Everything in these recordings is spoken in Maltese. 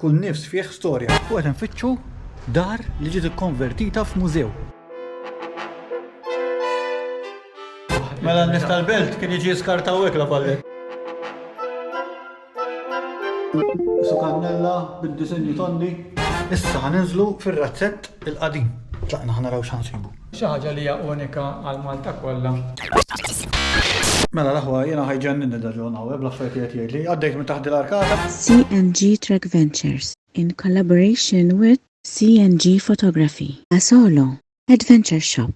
Kull nifs fih storja. U qed infittxu dar li ġiet ikkonvertita f'mużew. Mela n-nies tal-belt kien jiġi jiskarta hawnhekk La Valette. Su kannella bid-disinji tondi. Issa ħa ninżlu fir-razzett il-qadim. Tlaqna ħa naraw x'ħa nsibu. Xi ħaġa li hija unika għal Malta kollha. Mela l-aħwa jiena ħa jġenninni da John Howe bl-affarijiet li qed jgħidli. Għaddejt minn taħt dil-arkata. CNG Trek Ventures, in collaboration with. CNG Photography, a solo adventure shop.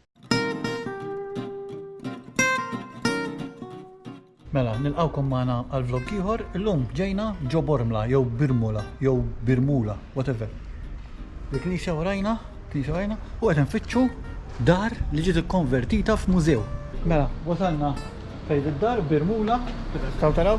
Mela, nilqgħukom magħna għal vlog ieħor. Illum ġejna ġo Bormla jew Birmula jew Birmula, whatever. Il-knisja warajna, knisja warajna, u qed nfittxu dar li ġiet ikkonvertita f'mużew. Mela, wasalna fejn id-dar Birmula, taw taraw,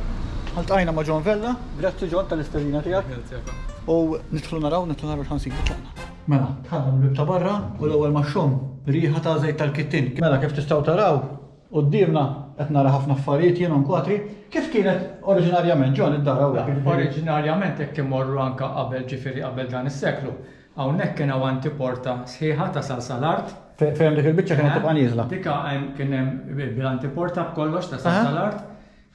ħaltqajna ma' John Vella, grazzi John tal-istedina tiegħek. U nidħlu naraw, nidħlu naraw x'ħansibu tagħna. Mela, tħadna mill-bib ta' barra u l-ewwel ma' xom riħa ta' żejt tal-kittin. Mela, kif tistgħu taraw, Quddiemna qed nara ħafna affarijiet jien u nkwatri. Kif kienet oriġinarjament, John, id-dar hawnhekk? Oriġinarjament hekk immorru anke qabel ġifieri qabel dan is-seklu. Hawnhekk kien hawn antiporta sħiħa tasal sal-art. Fejn hemm dik il-biċċa kienet tibqa' nieżla. Dik hemm kien hemm bil-antiporta b'kollox tasal sal-art.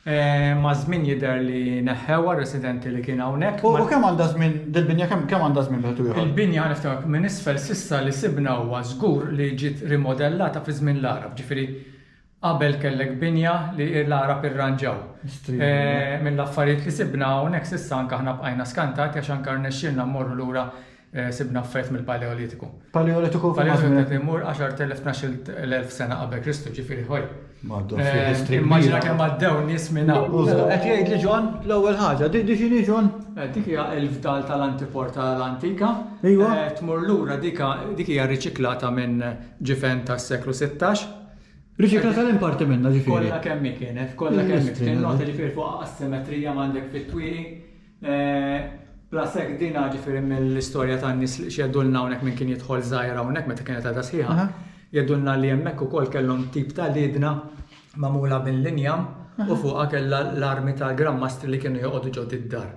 Maż-żmien jidher li neħħewha r-residenti li kien hawnhekk. U kemm għandha żmien dil-binja kemm għandha żmien wieħed u ieħor? Il-binja niftakar minn isfel s'issa li sibna huwa żgur li ġiet rimodellata fi żmien l-Għarab, ġifieri qabel kellek binja li l-Għarab irranġaw. Mill-affarijiet li sibna hawnhekk s'issa anke aħna bqajna skantati għax anke rnexxielna mmorru lura sibna affarijiet mill-Paleolitiku. Paleolitiku f'liema żmien. Paleolitiku qed imur 10,000, 12,000 sena qabel Kristu, ġifieri ħoj. Maddu, fi eh, history. Immaġina kemm għaddew nies minn hawn. Qed jgħid li Ġon l-ewwel ħaġa, dik x'inhi Ġon? Eh, dik hija l-fdal tal-antipor tal-antika. Iva. Eh, tmur lura dik hija riċiklata minn ġifen tas-seklu 16. Riċikla tal-imparti minna ġifieri. Kollha kemm kienet, kollha kemm kien nota ġifieri fuq asimetrija m'għandek fit-twieqi Blasek dina ġifiri mill-istorja ta' nis li xeddulna hawnhekk minn kien jidħol żgħira hawnhekk meta kienet għadha sħiħa. Jedulna li hemmhekk ukoll kellhom tip ta' liedna magħmula minn l-injam u fuqha kellha l-armi tal-Gran Mastri li kienu joqogħdu ġod id-dar.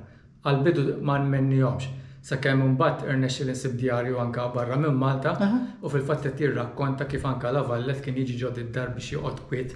Għall-bidu ma nmennihomx, sakemm imbagħad irnexxieli nsib djarju anka barra minn Malta u fil-fatt qed jirrakkonta kif anka Lavallet kien jiġi ġod id-dar biex joqgħod kwiet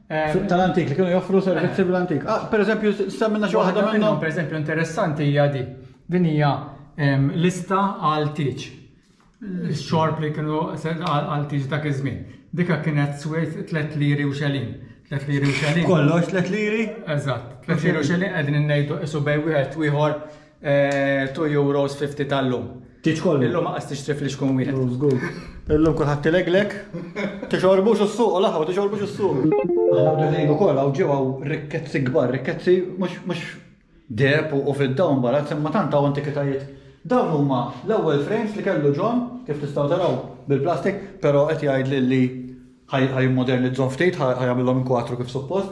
Suq tal-antik, li kienu joffru servizzi bl-antik. Per eżempju, semmilna xi waħda minnhom. Waħda minnhom, per eżempju, interessanti hija di. Din hija lista għal tiġ. Xorb li kienu għal tiġ dak iż-żmien. Dika kienet swejt 3 liri u xelin. 3 liri u xelin. Kollox 3 liri? Eżatt. 3 liri u xelin qegħdin ngħidu isu bejn wieħed u ieħor 2 euros 50 tal-lum. Tiċkollu. Illum għas tixtrif li xkun wieħed. Oh, żgur. Illum kulħadd tileglek. Tixorbux is-suq, laħwa tixorbux is-suq. Aħna dejn ukoll hawn ġew hawn rikkezzi kbar, rikkezzi mhux deb u fid-dawn barra, semma tant hawn antikitajiet. Dawn huma l-ewwel frames li kellu John, kif tistgħu taraw bil-plastik, però qed jgħid li ħaj modernizzhom ftit, ħaj jagħmilhom kwatru kif suppost.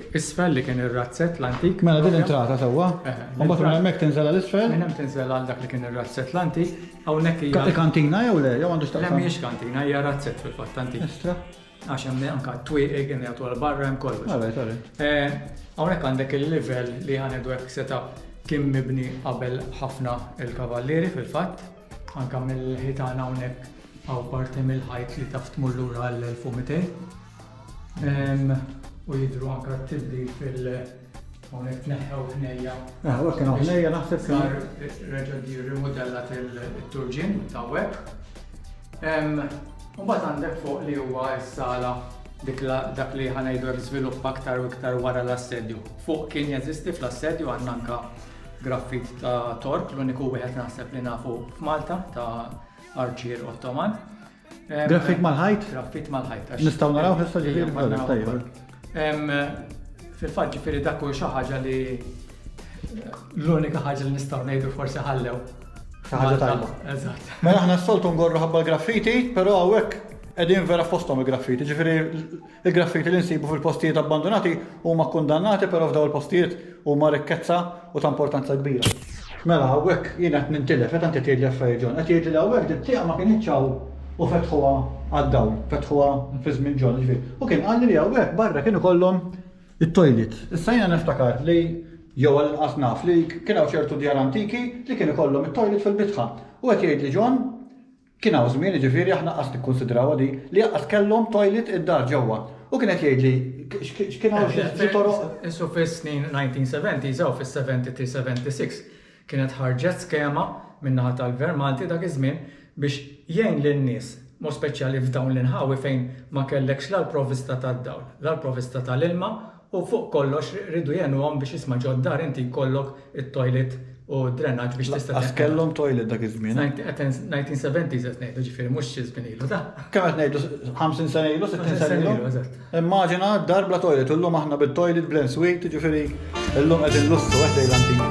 Isfel li kien ir-razzett l-antik. Mela din entrata sewwa. U mbagħad minn hemmhekk tinżel għal isfel. Minn hemm tinżel għal dak li kien ir-razzett l-antik. Hawnhekk hija. Kantina jew le, jew għandu x'taqsam. Le mhijiex kantina, hija razzett fil-fatt antik. Estra. Għax hemm anka twieqi kien jagħtu għal barra hemm kollox. Għalaj, għalaj. Eh, hawnhekk għandek il-livell li għandu hekk seta' kien mibni qabel ħafna il-kavallieri fil-fatt. Anka mill-ħitan hawnhekk għaw parti mill-ħajt li taf tmur lura l-1200. U jidru anka t-tibdil fil- Hawnhekk tneħħew ħnejja. Ah, u kienu ħnejja naħseb sar reġa' di rimodellat il-turġien ta' web. U mbagħad għandek fuq li huwa s-sala dik dak li ħanajdu hekk żvilupp aktar u iktar wara l-assedju. Fuq kien jeżisti fl-assedju għandna anka graffit ta' Tork, l-uniku wieħed naħseb li nafu f'Malta ta' Arċier Ottoman. Graffit mal-ħajt? Graffit mal-ħajt. Nistgħu naraw issa ġifieri. Fil-fatt ġifieri dak hu xi ħaġa li l-unika ħaġa li nistgħu ngħidu forsi ħallew. Ħaġa tajba. Eżatt. Mela aħna s-soltu ngorru ħabba l-graffiti, però hawnhekk qegħdin vera fosthom il-graffiti, ġifieri Il-graffiti li nsibu fil-postijiet abbandunati huma kkundannati però f'dawn il-postijiet huma rikkezza u ta' importanza kbira. Mela hawnhekk jien qed nintilef meta inti tgħidli affarijiet John. Qed tgħidli li hawnhekk din tieqa ma kinitx hawn u fetħuha għad-dawl, fetħuha fi żmien John, jiġifieri. U kien qalli li hawnhekk barra kien ikollhom it-toilet. Issa jiena niftakar li jew għall-inqas naf li kien hawn ċertu djar antiki li kien ikollhom it-toilet fil-bitħa. U qed jgħidli John Kien hawn żmien, jiġifieri aħna qas nikkunsidrawha din, li aqqas kellhom toilet id-dar ġewwa. Hu kien qed jgħidli x'kien hawn xi toroq. Qisu fis-snin 1970s aw fis-73, 76, kienet ħarġet skema min-naħa tal-Gvern Malti dak iż-żmien biex jgħin lin-nies, b'mod speċjali f'dawn l-inħawi fejn ma kellekx la l-provvista tad-dawl, la l-provvista tal-ilma U fuq kollox riedu jegħnuhom biex isma' ġod-dar inti jkollok it-toilet u d-drenaġġ biex tista' Laqqas kellhom toilet dak iż-żmien. Nineteen seventies qed ngħidu ġifieri mhux xi żmien ilu da. Kemm qed ngħidu 50 sena ilu, 60 sena ilu? Eżatt. Immaġina d-dar bla toilet u llum aħna bit-toilet bl-ensuite ġifieri llum qed inlussu qed lejl antik.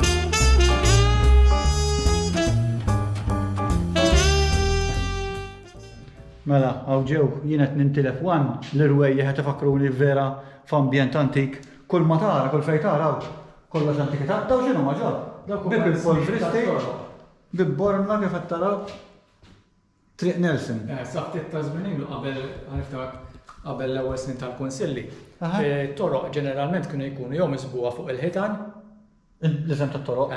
Mela, hawn ġew, jien qed nintilef one, l-irwejjaħ qed ifakruni vera F'ambjent antik, kull ma tara, kull fejn tara hawn kollox antikità. Dawn x'inhuma John? Bieb il-polvristi, bieb Bormla kif qed taraw, Triq Nelson. Sa ftit ta' żmien ilu qabel, niftakar, qabel l-ewwel snin tal-Kunsilli, it-toroq ġeneralment kienu jkunu jew misbugħa fuq il-ħitan, L-isem tat-toroq.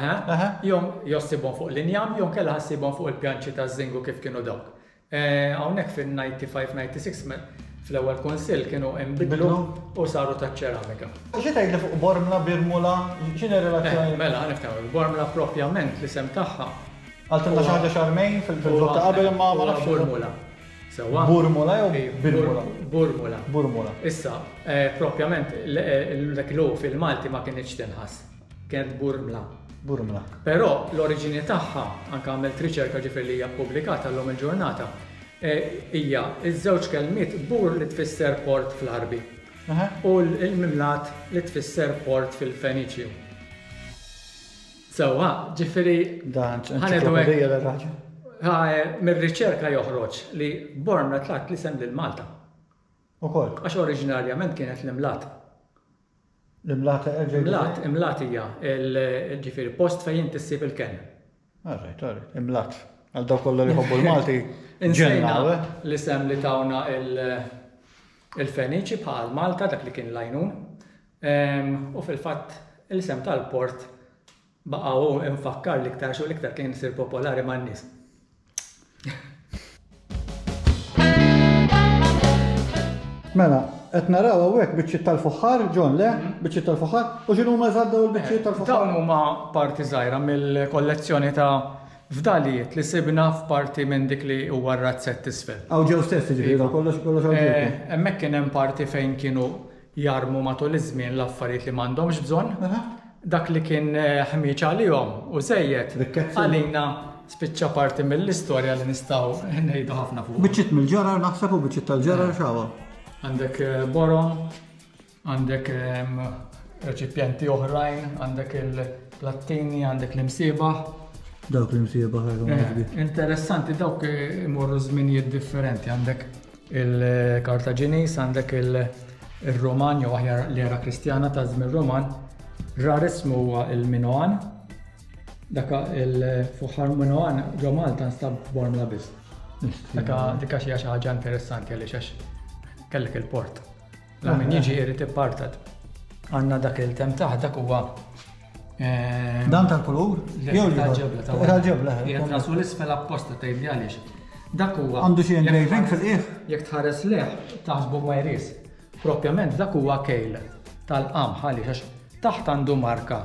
jew issibhom fuq l-injam jew inkella ħa ssibhom fuq il-pjanċi taż-żingu kif kienu dawk. Hawnhekk fin-1995 96 fl-ewwel Kunsill kienu inbidlu u saru taċ-ċeramika. Xi tgħidli fuq Bormla, Birmula, x'inhi r-relazzjoni? Mela, nifhem, il-Bormla propjament l-isem tagħha. Qaltilna xi ħaġa Xarmejn fil-vlog ta' qabel imma ma nafx. Burmula. Sewwa? Burmula jew Birmula? Burmula. Burmula. Issa, propjament dak il-u fil-Malti ma kinitx tinħass. Kent Burmla. Burmla. Però l-oriġini tagħha, anke għamilt riċerka ġifier li hija ppubblikata llum il-ġurnata, e, hija ż-żewġ kelmiet bur li tfisser port fl-Għarbi u l-mimlat li tfisser port fil-Feniċju. Sewwa, ġifieri. Dan ċ-ċiklopedija ta' raġel. E, mir-riċerka joħroġ li Burmla tlaqt l-isem lil Malta. Ukoll. Għax oriġinarjament kienet l-imlat. L-imlat, erġa' jgħidilha. Imlat, imlat hija l, ġifieri post fejn inti ssib il-kenn. All right, all right. Imlat. Għal dawk kollha li jħobbu l-Malti, ġenna, le? L-isem li tawna il-Feniċi bħal Malta, dak li kien l-għajnun. U fil-fatt l-isem tal-port Baqa' hu mfakkar li iktarx u l-iktar kien isir popolari man-nies. Mela, qed naraw hawnhekk biċċiet tal-fuħħar, John le, mhm. biċċiet tal-fuħħar, u x'inhu ma żadda u l-biċċiet eh, tal-fuħħar. Dawn huma parti żgħira mill-kollezzjoni ta' fdalijiet li sibna f'parti minn dik li huwa r-razzett isfel. Aw ġew stess ġifieri kollox kollox eh, Hemmhekk kien hemm parti fejn kienu Jarmu matul iż-żmien l-affarijiet li m'għandhomx bżonn. Dak li kien ħmieġ għalihom u żejjed, għalina spiċċa parti mill-istorja li nistgħu ngħidu ħafna fuq. Biċċiet mill-ġarar naħseb u biċċiet tal-ġarar xawa. Għandek eh, borom, għandek ehm, reċipjenti oħrajn, għandek il-plattini, għandek l-imsiba. Dawk l-imsiba ħarġu. Eh, interessanti dawk imorru żminijiet differenti, għandek Il-Kartaġiniż, għandek ir-Ruman jew aħjar l-era Kristjana ta' żmien Ruman, rar ismu huwa il-Minoan. Dak il-fuħar Minoan ġo Malta nstab f'Bormla biss. Dak xi ħaġa interessanti għaliex għax kellek il-port. La min jiġi irid ippartat. Għanna dak il-tem taħ, dak huwa. Eh, Dan tal-kulur? Jew tal-ġebla. Tal-ġebla. Eh, Jgħet rasu l-isfel apposta ta' jibdi għaliex. Dak huwa. Għandu xi engraving fil-qiegħ? Jekk tħares leħ, taħsbu ma jris. Propjament dak huwa kejl tal-qam għaliex għax taħt għandu marka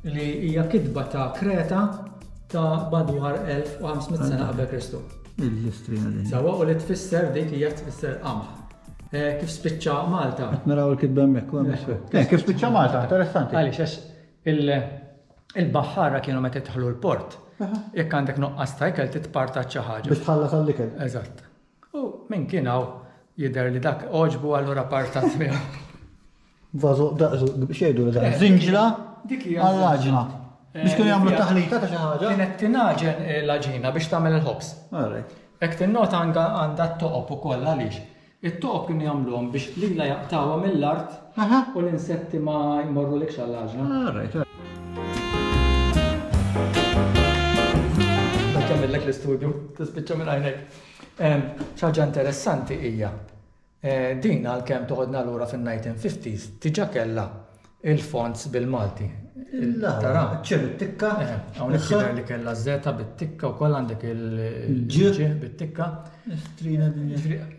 li hija kitba ta' Kreta ta' badwar 1500 sena qabel Kristu. Il-istri Sawa u li tfisser dik hija tfisser qamħ. Eh, kif spiċċa Malta? Qed naraw il-kitba hemmhekk. Eh, kif spiċċa Malta, interessanti. Għaliex għax il-baħħara kienu meta tħallu l-port. Jekk għandek noqqas ta' ikel titparta xi ħaġa. Biex tħalla tal-ikel. Eżatt. U minn kien hawn jidher li dak oġbu allura partat miegħu. Vazo, xejdu li dan. Zinġla għall-aġna. Biex kienu jagħmlu taħlita ta' xi ħaġa. Kienet tinaġen l-aġina biex tagħmel il-ħobs. Hekk tinnota għandha t-toqob ukoll għaliex. It-toqob kienu jagħmluhom biex lila jaqtawha mill-art u l-insetti ma jmorru l għall-aġna. Dak jagħmellek l-istudju, tispiċċa minn għajnek. Xi ħaġa interessanti hija Din għalkemm toħodna lura fin-nineteen fifties diġà kellha l-fonts bil-Malti. Tara? Ċ bit-tikka. Eħe, hawnhekk jidher li kellha żeta bit-tikka wkoll għandek il-ġ bit-tikka. Strina din.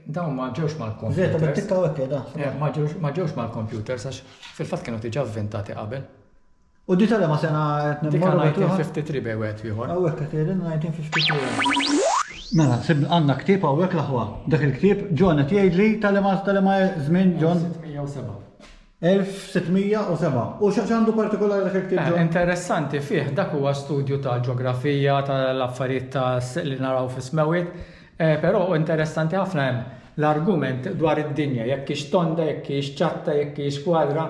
Dawn ma ġewx mal-kompjuter. Żeta bit-tikka hekk qiegħda. Ma ġewx mal-kompjuter għax fil-fatt kienu diġà vvintati qabel. U di tal-ema sena qed nimmorru? Dik għal 1953 bej wieħed u ieħor. Hawnhekk qed jgħidilna 1953. Mela, sibna għandna ktieb hawnhekk l-aħwa. Dak il-ktieb John qed jgħidli tal-ema tal-ema żmien John? 1607. 1607. U x'għandu partikolari dak il-ktieb John? Interessanti fih dak huwa studju ta' ġeografija tal-affarijiet ta' li naraw fis-smewwiet, però interessanti ħafna hemm l-argument dwar id-dinja jekk hix tonda, jekk hix ċatta, jekk hix kwadra.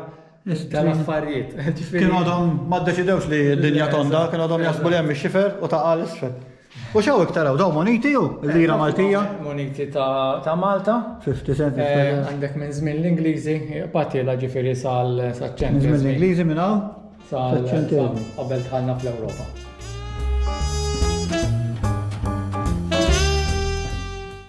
Iżda l-affarijiet. Kien għadhom ma ddeċidewx li d-dinja tonda, kien għadhom jaħsbu li hemm ix-xifer u taqa' 'l isfel. U x'hawn iktar hawn? Dawn moniti jew? Il-lira Maltija? Moniti ta' Malta. 50 cent. Għandek minn żmien l-Ingliżi, batiela ġifieri sal-ċentru. Minn żmien l-Ingliżi minn hawn? Sal-ċentru. Qabel dħalna fl-Ewropa.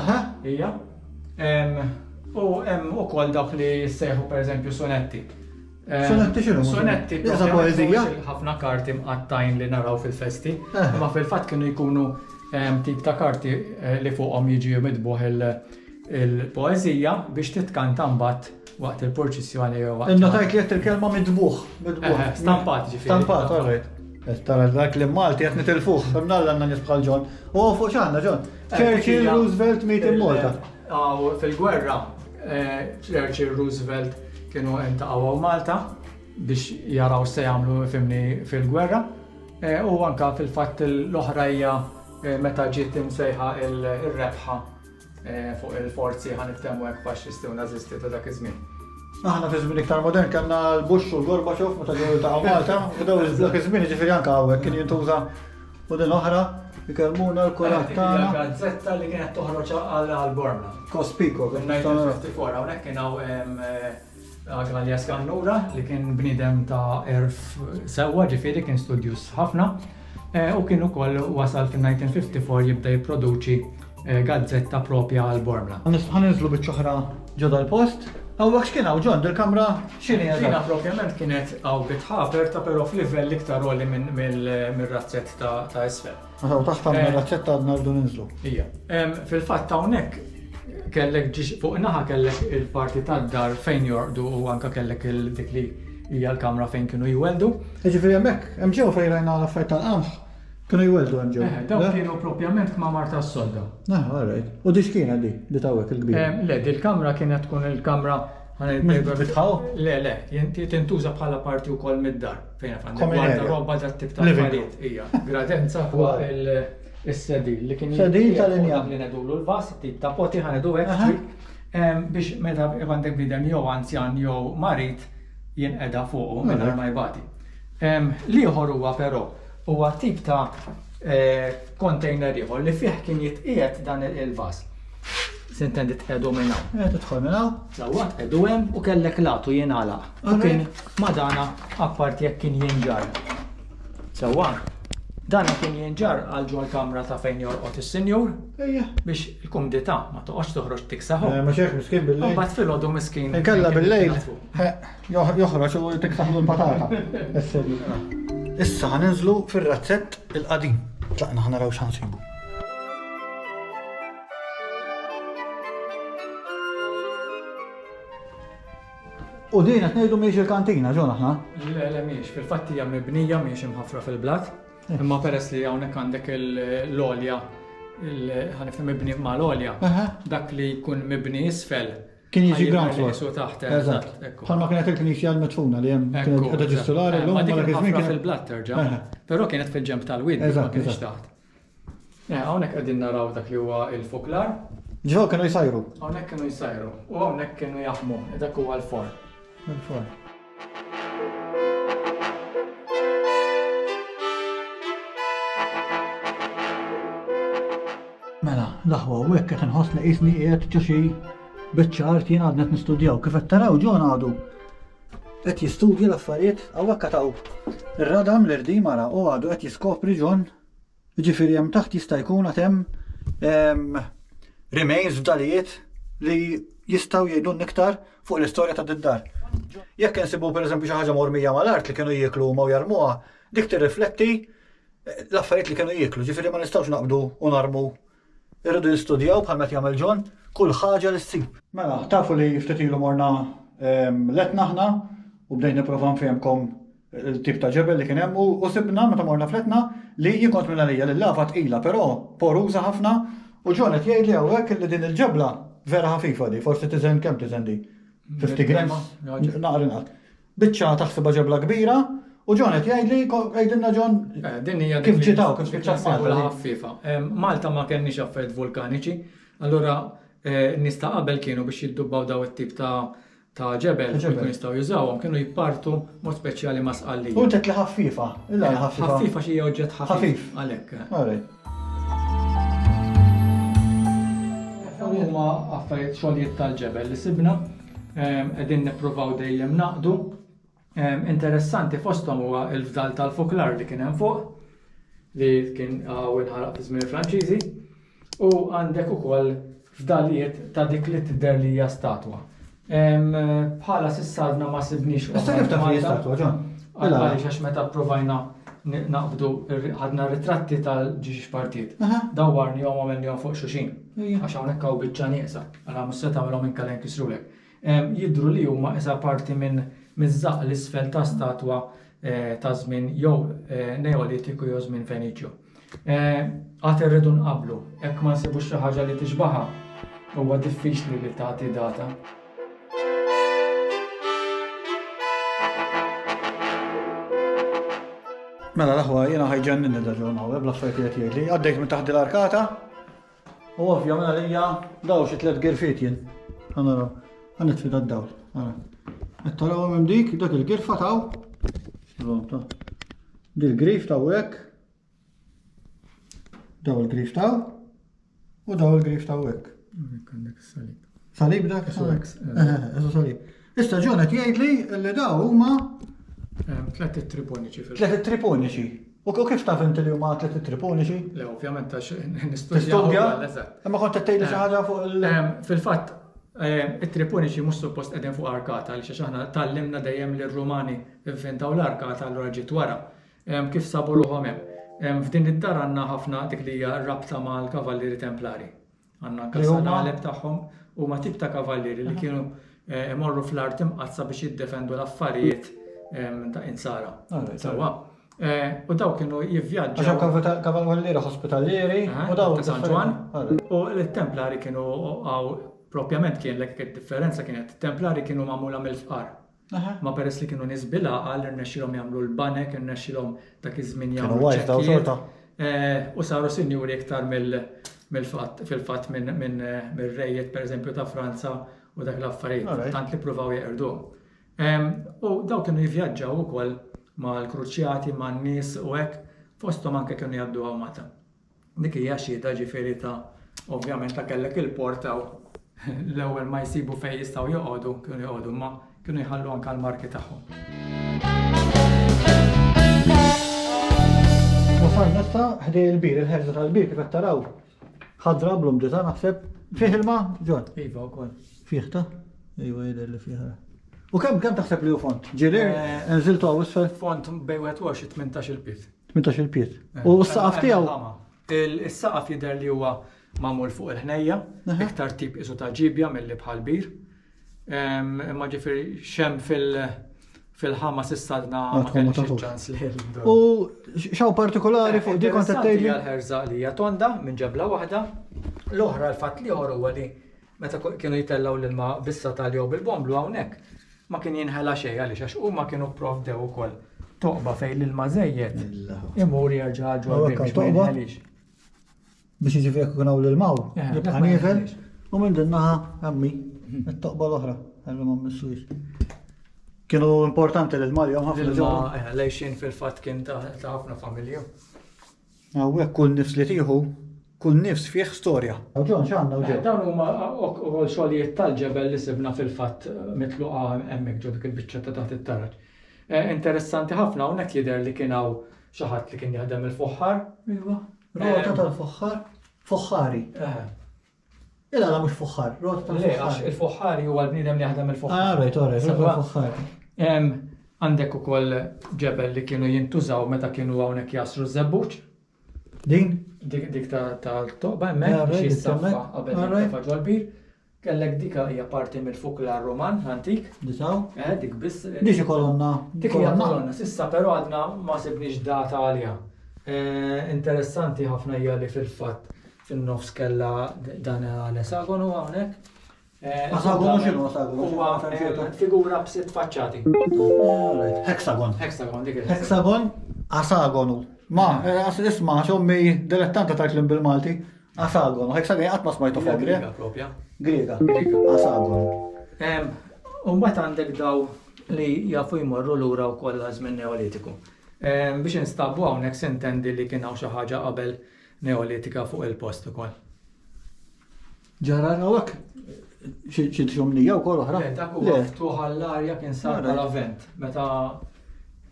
Aha, hija. U hemm ukoll dawk li jissejħu pereżempju sonetti. Sonetti xinu? Sonetti ta' poezija. Ħafna karti mqattajn li naraw fil-festi, imma fil-fatt kienu jkunu tip ta' karti eh, li fuqhom jiġi midbuħ il-poezija biex titkanta mbagħad Waqt il-purċissjoni jew waqt. Innotajt li qed il-kelma midbuħ, midbuħ. Stampat ġifieri. Stampat, all right. Tara dak li Malti qed nitilfuh, fimnalla għandna nies bħal Ġon. U fuq x'għandna Ġon? Churchill, Roosevelt, meet in Malta. Aw fil-gwerra, eh, Churchill, Roosevelt kienu intaqgħu Malta biex jaraw se jagħmlu fimni fil-gwerra. Eh, u anka fil-fatt l-oħrajja eh, meta ġiet imsejħa il-rebħa Fuq il-forzi ħa niftehmu hekk faxxisti u nażisti ta' dak iż-żmien. Aħna fi żmien iktar modern kellna l-Bush u l-Gorbachev meta ġew jiltaqgħu Malta u daw dak iż-żmien jiġifieri anke hawnhekk kien jintuża u din oħra jkellmuna l-kurat tagħna. Gazzetta li kienet toħroġ għal Bormla. Kospiko. Hawnhekk kien hawn Alias Gallura li kien bnidem ta' erf sewwa ġifieri kien studjus ħafna eh, u kien ukoll wasal fin-1954 jibda jipproduċi eh, gazzetta propja għal Bormla. Ħanizlu biċ-ċoħra ġodha l-post. Għawek x'kien għaw ġon dil-kamra xini għadha? Xina propjament kienet għaw bitħaper ta' pero f'livell iktar għoli mill-razzett ta' isfel. Meta u taħt għandna razzetta għadna rridu ninżlu. Ija. Fil-fatt hawnhekk kellek fuq naħa kellek il-parti tad-dar fejn jorqdu u anka kellek il-dik li hija l-kamra fejn kienu jweldu. Ġifieri hemmhekk, hemm ġew fejn rajna l-affarijiet tal-qamħ kienu jweldu hemm ġew. Eh, dawn kienu propjament kmamar tas-solda. Ah, alright. U dix kienet di li tawek il-kbir. Eh, le, di l-kamra kienet tkun il-kamra Bitħaw? Le, le, jinti tintuża bħala parti u koll mid-dar. Fejn għaf għandek għandek robba ta' tip ta' farijiet. Ija, gradenza huwa il-sedil li kien sedil tal-injam. Li nedulu l-vas, tip ta' poti ħanedu għek. Biex meta għandek bidem jew anzjan jew marit jien edha fuqu minn mela. ma jbati. Liħor huwa però huwa tip ta' kontejner eh, ieħor li fih kien jitqiegħed dan il-vas. Sintendi tqedu minn hawn. Qed tidħol minn hawn. Sewwa tqedu hemm u kellek latu jingħalaq. U kien madana apparti jekk kien jinġar. Sewwa. Dan kien jinġar għal ġol kamra ta' fejn jorqod is-sinjur. Ejja. Biex il-kumdità ma toqgħodx toħroġ tiksaħu. Eh, ma xejn miskin bil-lejl. Imbagħad filgħodu miskin. Inkella bil-lejl eh, joħroġ u tiksaħlu l-patata. Issa ħaninżlu fir-razzett il-qadim. Tlaqna ħanaraw x'ħansibu. U din qed ngħidu mhijiex il-kantina ġon aħna? Le, le mhijiex, fil-fatt hija mibnija mhijiex imħafra fil-blat, imma peress li hawnhekk għandek l-olja ħanifhem mibni ma' l-olja, dak li jkun mibni isfel. Kien jiġi ground floor. Su taħt. Eżatt. Bħalma kienet il-knisja l-mitfuna li hemm kienet ġistulari l-lum ma kien fil-blat terġa'. Però kienet fil-ġemp tal-wid, ma kienx taħt. Eh, hawnhekk qegħdin naraw dak li huwa l-fuklar. Ġo kienu jsajru. Hawnhekk kienu jsajru u hawnhekk kienu jaħmu, dak huwa l-forn. Il-forn. Mela, l-aħwa u hekk qed inħoss li qisni qiegħed ġo xi biċċa art jien għadnet nistudjaw kif qed taraw ġo għadu Qed jistudja l-affarijiet hawnhekk qed hawn ir-radam l-irdiem ara u għadu qed jiskopri John jiġifieri hemm taħt jista' jkun għad hemm ehm, remains fdalijiet li jistgħu jgħidulna iktar fuq l-istorja ta' d-dar. Jekk insibu pereżempju xi ħaġa mormija mal-art li kienu jieklu huma u jarmuha, dik tirrifletti eh, l-affarijiet li kienu jieklu, ġifieri ma nistgħux naqbdu u narmu Irridu jistudjaw, bħal m'qed jagħmel John, kull ħaġa li ssir. Mela, tafu li ftit ilu morna l-Etna aħna u bdejt nipprova nfehmkom il-tip ta' ġebel li kien hemm u sibna meta morna fl-Etna li jien kont minn għalija li l-lava tqila però poruża ħafna u John qed jgħidli hawnhekk li din il-ġebla vera ħafifa di, forsi tiżen kemm tiżen di? 50 grams? Naqra inqas. Biċċa taħsibha ġebla kbira u John qed jgħidli, għidilna John, kif ġiet hawn, kif spiċċat Malta. ħaffifa. Malta ma kellniex affarijiet vulkaniċi, allura n-nies ta' qabel kienu biex jiddubbaw daw it-tip ta' ta' ġebel li kienu jistgħu jużawhom kienu jippartu mod speċjali ma' sqallija. U inti qed li ħaffifa, illa hi ħaffifa. Ħaffifa xi oġġett ħafif. Għalhekk. Dawn huma affarijiet xogħlijiet tal-ġebel li sibna. Qegħdin nippruvaw dejjem naqdu. Interessanti fosthom huwa l-fdal tal-fuklar li kien hemm fuq li kien għaw inħaraq fi żmien il-Franċiżi u għandek ukoll fdalijiet ta' dik li tidher li hija statwa. Bħala sissarna ma sibniex. Issa kif taf li statwa ġon? Għaliex għax meta provajna naqbdu ħadna ritratti tal-ġiġi xpartiet. Dawwarni għom għamilni għom fuq xuxin. Għax hawnhekk hawn biċċa nieqsa. Ala mhux se tagħmilhom inkella jinkisrulek? Jidhru li huma isa parti minn miż-żaqq l-isfel ta' statwa ta' żmien jew Neolitiku jew żmien Feniċju. Għad irridu nqabblu, hekk ma nsibux xi ħaġa li tixbaħha, huwa diffiċli li tagħti data. Mela l-aħwa jiena ħajġennin il-ġurnal, ebla affarijiet li qed jgħidli. Għaddejt minn taħt l-arkata, U ovvja minn għalija daw xi tliet girfiet jien. Ħa naraw. Ħa nitfi dad-dawl. Ara. Qed tarawhom hemm dik, dak il-girfa taw. Dil-grif taw hekk. Daw il-grif taw. U daw il-grif taw hekk. Salib dak. Eżu salib. Issa John qed jgħidli li daw huma tliet triponiċi fil Tliet triponiċi. U kif taf inti li huma tliet triponiċi? Le, ovvjament għax nistudja. Imma kont qed tgħidli xi eh, ħaġa fuq il- eh, Fil-fatt, eh, it-triponiċi mhux suppost qegħdin fuq arkata li xi aħna tallimna dejjem li r-Rumani inventaw l-arkata allura ġiet wara. Kif sabu ruħhom hemm? F'din id-dar għandna ħafna dik li hija rabta mal-Kavallieri Templari. Għandna anke s-salgħaleb tagħhom. Huma tip ta' kavallieri li kienu imorru fl-art imqaddsa biex jiddefendu l-affarijiet ta' insara. Sewwa. U daw kienu jivvjaġġaw. Għax kavallieri ospitalieri u daw. Ta' San Ġwann. U l-Templari kienu għaw propjament kien l-ek differenza kienet. Templari kienu magħmula mill-fqar. Imma peress li kienu nies bil-għaqal, irnexxielhom jagħmlu l-banek, irnexxielhom dak iż-żmien jagħmlu ċ-ċekkijiet. U saru sinjuri iktar mill-fatt, fil-fatt minn rejjiet, pereżempju, ta' Franza u dak l-affarijiet, tant li ppruvaw jeqirduhom. U dawk kienu jivvjaġġaw ukoll mal-kruċjati, man-nies u hekk, fosthom anke kienu jgħaddu hawn Malta. Dik hija xhieda ġifieri ta' ovvjament ta' kellek il-porta u l-ewwel ma jsibu fejn jistgħu joqogħdu kienu joqogħdu imma kienu jħallu anke l-marki tagħhom. Wasalna issa ħdej il-bir, il-ħerża tal-bir kif qed taraw. Ħadra blu mġita naħseb fih ilma ġon. Iva wkoll. Fih ta? Iva jidher li fih. U kemm kemm taħseb li hu font? Ġieli, eh, nżiltu hawn isfel? Font bejn 21 18 il-piż. 18 il-piet. Eh, u s-saqaf eh, tiegħu. Is-saqaf jidher li huwa magħmul fuq il-ħnejja, iktar tip isu ta' ġibja mill-li bħal bir. Imma ġifieri xem fil- fil-ħama sistadna ma kellix ċans li U xaw partikolari fuq dik kont tgħidli. Għal-ħerża li hija tonda minn ġebla waħda, l-oħra l-fatt li ieħor huwa li meta kienu jtellgħu l-ilma bis-satal jew bil-bomblu hawnhekk ma kien jinħela xejn għaliex għax huma kienu pprovdew ukoll toqba fejn l-ilma żejjed imur jerġa' ġol biex ma jinħelix. Biex jiġifieri jekk ikun hawn l-ilmaw, eh, jibqa' nieżel u minn din naħa għammi it-toqba l-oħra għallu ma missux. Kienu importanti l-ilma li jom ħafna. L-ilma eh, lejxin fil-fatt kien ta' ħafna familju. Hawnhekk kull nifs li tieħu, kull nifs fih storja. U John x'għandna u Joe? Dawn huma ukoll xogħlijiet tal-ġebel li sibna fil-fatt mitluqa hemmhekk ġo dik il-biċċa ta' taħt it-taraġ. Interessanti ħafna hawnhekk jidher li kien hawn xi ħadd li kien jaħdem il-foħħar. Iva, rota tal-foħħar, foħħari. Ilala mhux fuħħar, rot ta' Le, għax il-fuħħari huwa l-bniedem li jaħdem il-fuħħar. Ah, right, all right, rot ta' fuħħar. Għandek ukoll ġebel li kienu jintużaw meta kienu hawnhekk jasru żebbuġ. Din? Dik tal-toqba hemmhekk biex jissaffa qabel jintafa' ġol-bir. Kellek dik hija parti mill-fukla Roman antik. Disaw? Eh, dik biss. Dik kolonna. Dik hija kolonna. Sissa però għadna ma sibniex data għaliha. Eh, interessanti ħafna hija li fil-fatt fin-nofs kellha dan l-esagonu hawnhekk. Asagonu x'inhu asagonu? Huwa figura b'sitt faċċati. Hexagon. Hexagon dik Hexagon asagonu. Ma, għas isma' xommi dilettanta ta' klim bil-Malti. Asagonu, hexagon qatt ma smajtu fuq Griega propja. Griega. Asagonu. Umbat għandek daw li jafu jmorru lura wkoll għaż-żmien Neolitiku. Biex instabu hawnhekk sintendi li kien hawn xi ħaġa qabel Neolitika fuq il-post ukoll. Ġara hawnhekk xi ġumnija wkoll oħra. Le, dak huwa ftuħ għall-arja kien sar bħala vent. Meta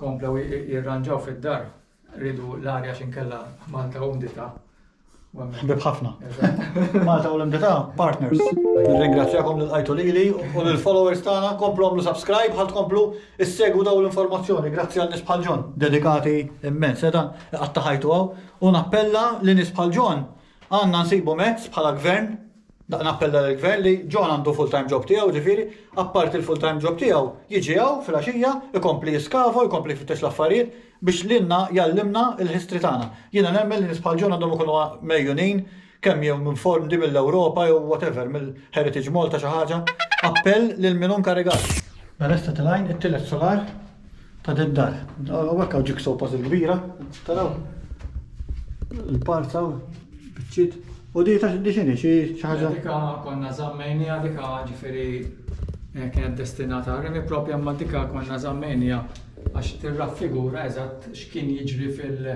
komplew jirranġaw fid-dar, ridu l-arja xinkella Malta u Mdita. Ħbib ħafna. Malta u l-Mdita, partners. Nirringrazzjakom lil qajtu lili u lil followers tagħna komplu għamlu subscribe ħadd komplu issegwu daw l-informazzjoni. Grazzi għal nisbħal ġon. Dedikati immens, sedan qatta ħajtu għaw U nappella li nies bħal John għandna nsibu mezz bħala Gvern, nappella lill-Gvern li John għandu full-time job tiegħu, ġifieri, apparti l-full-time job tiegħu, jiġi hawn filgħaxija, ikompli jiskava, ikompli jfittex l-affarijiet biex lilna jgħallimna l-history tagħna. Jiena nemmen li nies bħal John għandhom ikunu megħjunin kemm jew minn form di mill-Ewropa jew whatever mill-Heritage Malta xi ħaġa, appell lil min hu nkarigat. Mela issa tilgħin it-tielet solar ta' din dar. Hawnhekk hawn jigsaw puzzle kbira, taraw. Il-parza biċċiet. U di ta' di xini xi ħaġa. Dika konna żammejnija dika ġifieri eh, kienet destinata rimi propja ma dika konna żammejnija għax tirraffigura eżatt x'kien jiġri fil-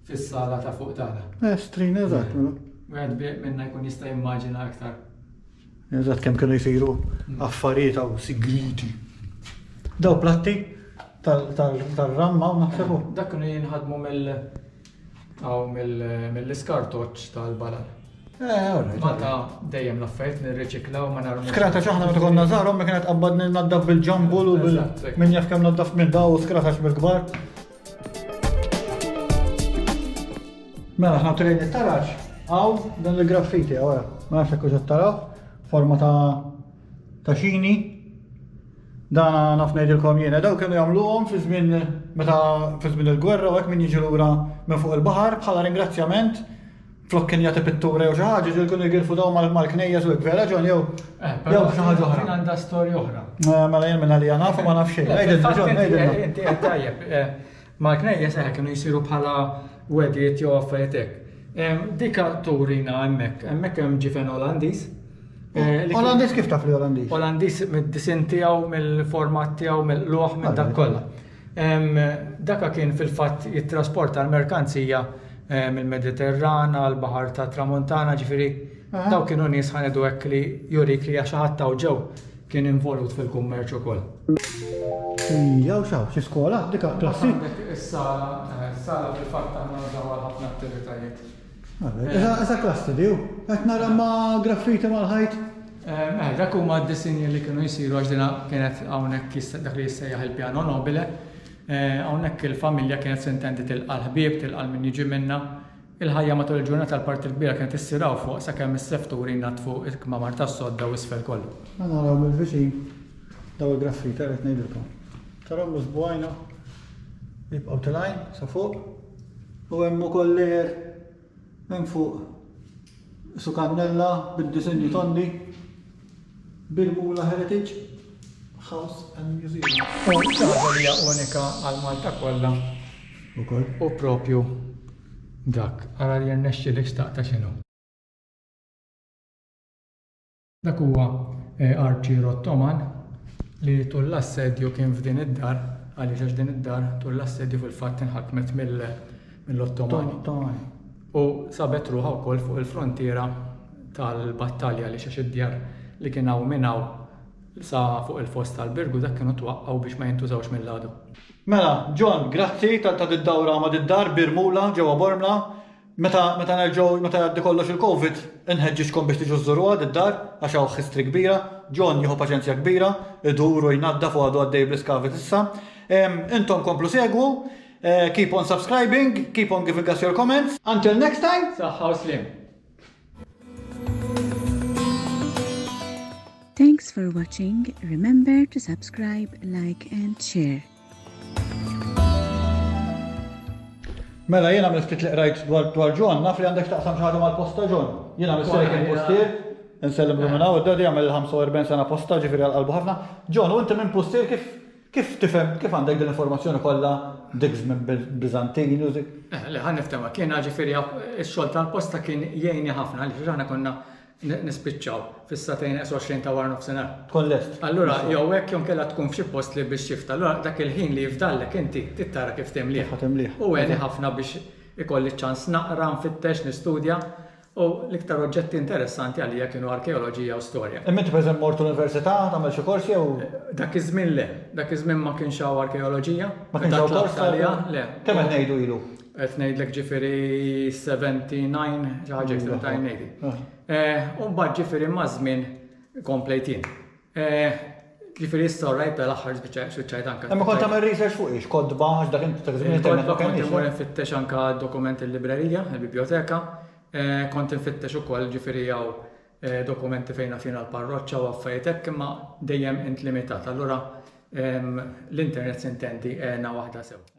fis-sala ta' fuq tagħna. Eh, strin eżatt, mela. Wieħed bieq minna jkun jista' jimmaġina aktar. Eżatt kemm kienu jsiru mm. affarijiet hawn sigriti. Daw platti tal-ramma u naħsebu. Eh, dak kienu jinħadmu mill aw mill-iskartoċ tal-balan. Eh, Malta dejjem l-affajt nirriċiklaw ma narmu. Skrata ċaħna ma tkonna zarom ma kienet qabbad naddaf bil-ġambul u bil-min jaf kemm naddaf minn daw u skrata bil-kbar. Mela, ħna trejn it-taraġ, għaw dan il-graffiti, għawra, ma nafx kux taraw, forma ta' ta' xini. Dana naf ngħidilkom jiena, daw kienu jagħmluhom fi żmien meta fi żmien il-gwerra u hekk min jiġi lura minn fuq il-baħar bħala ringrazzjament Flok kien jagħti pittura jew xi ħaġa, ġieli kienu jgirfu daw mal-knejjes u hekk vera ġon jew eh, jew xi ħaġa oħra. Għandha storja oħra. Eh, mela jien minn għalija nafu ma nafx xejn. Għidilna ġon, għidilna. Inti qed tajjeb. Eh, mal-knejjes eħe kienu jsiru bħala wedijiet jew affarijiet hekk. Dika turina hemmhekk, hemmhekk hemm ġifen Olandiż. Olandiż kif taf li Olandiż? Olandiż mid-disin tiegħu, mill-format tiegħu, mill-luħ, minn dak kollha. Daka kien fil-fatt jittrasporta l-merkanzija mill-Mediterran għall-Baħar tat-Tramuntana, ġifieri dawk kienu nies ħa ngħidu hekk li jurik li xi ħadd hawn ġew kien involut fil-kummerċ ukoll. Hi, hawn x'hawn, xi skola, dika klassi? Hawnhekk is-sala, is-sala fil-fatt aħna nużawha għal ħafna attivitajiet. Eżatt klassi di hu. Qed nara ma' graffiti mal-ħajt. Eh, dak huma d-disinji li kienu jsiru għax dina kienet hawnhekk dak li jissejjaħ il-pjano nobile. Eh, hawnhekk il-familja kienet sintendi tilqa' l-ħbieb, tilqa' min jiġi minna. Il-ħajja matul il-ġurnata l-parti l-kbira kienet issiraw fuq sakemm is-sefturi jnaddfu il-kmamar tas-sodda u isfel kollu. Ma naraw mill-viċin daw il-graffiti qed ngħidilkom. Tarom l-isbgħajna jibqgħu tilgħin sa fuq u hemm ukoll lejer minn fuq su kannella bid-disinji tondi bil-Mula Heritage House and Museum. U ċaħġa li hija unika għal Malta kollha ukoll. U propju dak, ara li jirnexxilek xtaqta x'inhu. Dak huwa Archie Rottoman li tul l-assedju kien f'din id-dar, għaliex għax din id-dar tul l-assedju fil-fatt inħakmet mill-Ottomani. U sabet ruħha wkoll fuq il-frontiera tal-battalja għaliex għax id-djar li kien hawn minn hawn sa fuq il-foss tal-Birgu dak kienu twaqqgħu biex ma jintużawx mill-għadu. Mela, John, grazzi tal-ta' did-dawra ma' did-dar b'Irmula ġewwa Bormla. Meta meta nerġgħu meta jgħaddi kollox il-Covid, inħeġġiġkom biex tiġu żżuruha did-dar għax hawn history kbira. John jieħu paċenzja kbira, idur u jnaddaf u għadu għaddej bl-iskavi s'issa. Ehm, intom komplu segwu, eh, keep on subscribing, keep on giving us your comments. Until next time, saħħa u sliem. Thanks for watching. Remember to subscribe, like and share. Mela jiena mill ftit li qrajt dwar dwar John naf li għandek x'taqsam xi ħaġa mal-post ta' John. Jiena misterek il-postier, insellem minn hawn id-dadi jagħmel il-45 sena posta ġifieri għal qalbu ħafna. John, u inti minn postier kif kif tifhem kif għandek din l-informazzjoni kollha dik żmien Biżantini u dik? Eh, le ħa niftehma, kiena ġifieri x-xogħol tal-posta kien jgħinni ħafna għaliex aħna konna Nispiċċaw fis-sagħtejn eqs 20 ta' waranofsinhar. Tkun lest. Allura jew hekk jew inkella tkun f'xi post li biex shift. Allura dak il-ħin li jifdallek inti trid tara kif timlieh. Kif ħa timlieh. U għeni ħafna biex ikolli ċ-ċans naqra, nfittex, nistudja u l-iktar oġġetti interessanti għalija kienu arkeoloġija u storja. Imma inti pereżempju mort università tagħmel xi kors jew? Dak iż-żmien le. Dak iż-żmien ma kienx hawn arkeoloġija. Ma kienx hawn kors? Le. Kemm qed ngħidu ilu? Qed ngħidlek ġifieri 79 xi ħaġa hekk trid tgħin ngħidi. Eh, u mbagħad ġifieri maż-żmien komplejt jien. Eh, ġifieri issa rajt l-aħħar biċċa x'ċajt anke. Imma kont tagħmel research fuq ix, kodba għax dak inti dak żmien internet ma Kont imur kellix. infittex anke dokument il-librerija, il-biblioteka, eh, kont infittex ukoll ġifieri hawn eh, dokumenti fejn naf jiena l-parroċċa u affarijiet hekk imma dejjem int limitat. Allura ehm, l-internet sintendi għena waħda sew.